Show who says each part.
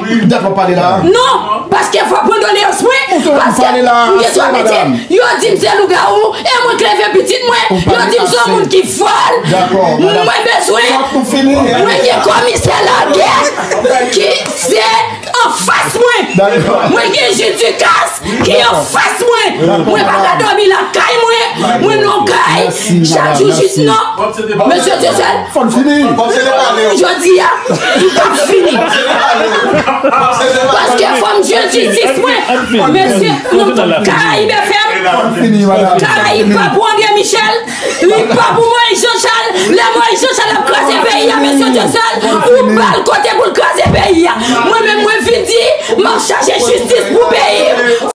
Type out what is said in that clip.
Speaker 1: Pil dat wap pale la.
Speaker 2: Non, paske
Speaker 1: fok mwen doleyans mwen, paske mgen twa metye, yo dim se lougawou, e mwen k leve pitit mwen, yo dim son moun ki fol,
Speaker 2: mwen
Speaker 1: bezwen, mwen gen komisè lagè ki se anfas mwen, mwen gen jidikas. Li anfas mwen, mwen pa ka domi lakay mwen, mwen non kay, chak jou jis nan, Mesye Dieuseul, fòm fini,
Speaker 2: jodi
Speaker 1: a, m p ap fini, paske fòm jwenn jistis mwen, mesye, m non kay BFM, kay Pap André Michel. Li pa pou Moïse Jean Charles, lè Moïse Jean Charles ap kraze peyi a mesye Dieuseul, ou bal kote pou l kraze peyi a. Mwen menm mwen vin di, m ap chache jistis pou peyi m.